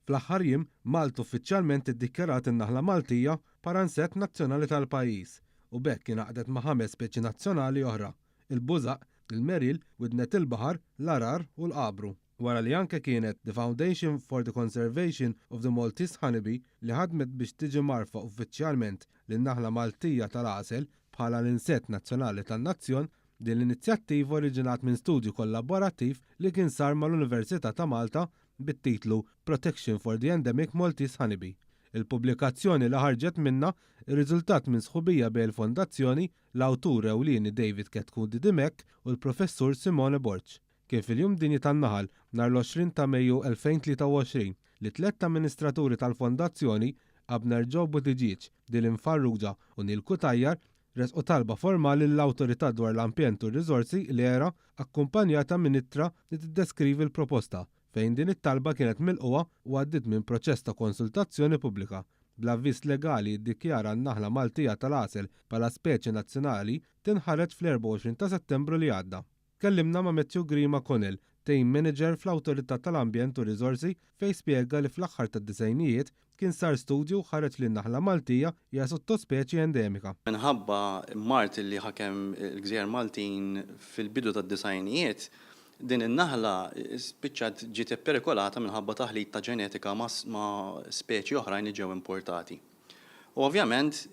Fl-aħħar jiem, Malta uffiċjalment iddikjarat in-naħla Maltija paransett nazzjonali tal-pajjiż u b'hekk ingħaqdet ma' ħames speċi nazzjonali oħra, il-bużaq, il-meril, widnet il-baħar, l-għarar u l-għabru. Wara li anke kienet The Foundation for the Conservation of the Maltese Honeybee li ħadmet biex tiġi mgħarrfa uffiċjalment lin-naħla Maltija tal-għasel bħala l-insett nazzjonali tan-nazzjon, din l-inizjattiva oriġinat minn studju kollaborattiv li kien sar mal-Università ta' Malta bit-titlu Protection for the Endemic Maltese Honeybee. Il-pubblikazzjoni li ħarġet minnha, irriżultat minn sħubija bejn il-Fondazzjoni, l-awtur ewlieni David Ketkundi Dimech u l-Professur Simone Borg, kien fil-Jum Dinji tan-Naħal, nhar l-20 ta' Mejju 2023, li tlett amministraturi tal-Fondazzjoni, Abner Joe Buttigieg, Dylan Farrugia u Neil Cutajar, ressqu talba formali lill-Awtorità dwar l-Ambjent u r-Riżorsi, l-ERA, akkumpanjata minn ittra li tiddeskrivi l-proposta, fejn din it-talba kienet milqugħa u għaddiet minn proċess ta' konsultazzjoni pubblika, bl-avviż legali jiddikjara n-naħla Maltija tal-għasel bħala speċi nazzjonali tinħareġ fl-24 ta' Settembru li għadda. Tkellimna ma' Matthew Grima Connell, Team Manager fl-Awtorità tal-Ambjent u r-Riżorsi, fejn spjega li fl-aħħar tad-disgħinijiet kien sar studju u ħareġ li n-naħla Maltija hija sottospeċi endemika. Minħabba mard li ħakem il-gżejjer Maltin fil-bidu tad-disgħinijiet, din in-naħla spiċċat ġiet ipperikolata minħabba taħlit ta' ġenetika ma' speċi oħrajn li ġew importati. U ovvjament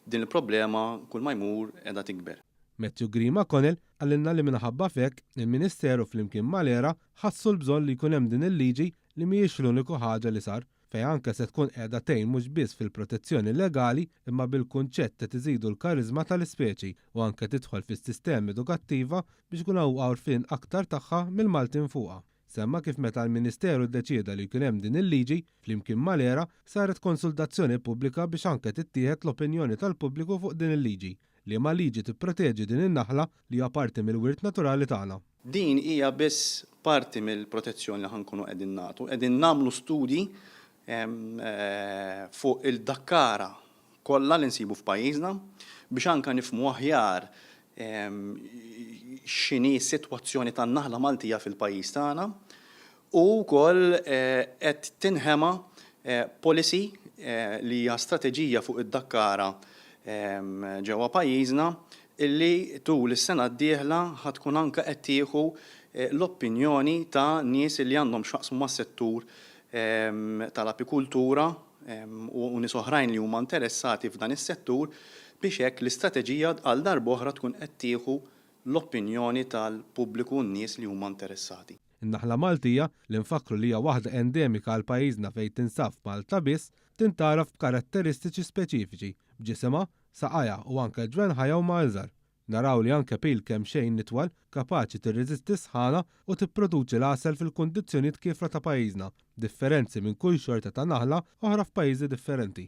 din il-problema kull ma jmur qiegħda tikber. Matthew Green McConnell qalilna li minħabba f'hekk, il-Ministeru flimkien mal-ERA ħassu l-bżonn li jkun hemm din il-liġi li mhijiex l-uniku ħaġa li sar, fejn anke se tkun qiegħda tgħin mhux biss fil-protezzjoni legali imma bil-kunċett qed iżidu l-kariżma tal-ispeċi u anke tidħol fis-sistema edukattiva biex ikun hawn għorfien aktar tagħha mill-Maltin fuqha. Semma kif meta l-Ministeru ddeċieda li jkun hemm din il-liġi, flimkien mal-ERA, saret konsultazzjoni pubblika biex anke tittieħed l-opinjoni tal-pubbliku fuq din il-liġi, liema liġi tipproteġi din in-naħla li hija parti mill-wirt naturali tagħna. Din hija biss parti mill-protezzjoni li ħa nkunu qegħdin nagħtu. Qegħdin nagħmlu studji fuq il-dakkara kollha li nsibu f'pajjiżna biex anke nifhmu aħjar x'inhi s-sitwazzjoni tan-naħla Maltija fil-pajjiż tagħna u wkoll qed tinħema policy li hija strateġija fuq id-dakkara ġewwa pajjiżna li tul is-sena d-dieħla ħa tkun anke qed tieħu l-opinjoni ta' nies li għandhom x'jaqsmu mas-settur tal-apikultura u nies oħrajn li huma interessati f'dan is-settur biex hekk l-istrateġija għal darb'oħra tkun qed tieħu l-opinjoni tal-pubbliku u n-nies li huma interessati. In-naħla Maltija, li nfakkru li hija waħda endemika għal pajjiżna fejn tinsab f'Malta biss, tintgħaraf b'karatteristiċi speċifiċi, b'ġisimha, saqajha u anke ġwenħajha huma iżgħar. Naraw li anke pil kemxejn nitwal, kapaċi tirreżisti s-sħana u tipproduċi l-għasel fil-kundizzjonijiet kiefra ta' pajjiżna, b'differenzi minn kull xorta ta' naħla oħra f'pajjiżi differenti.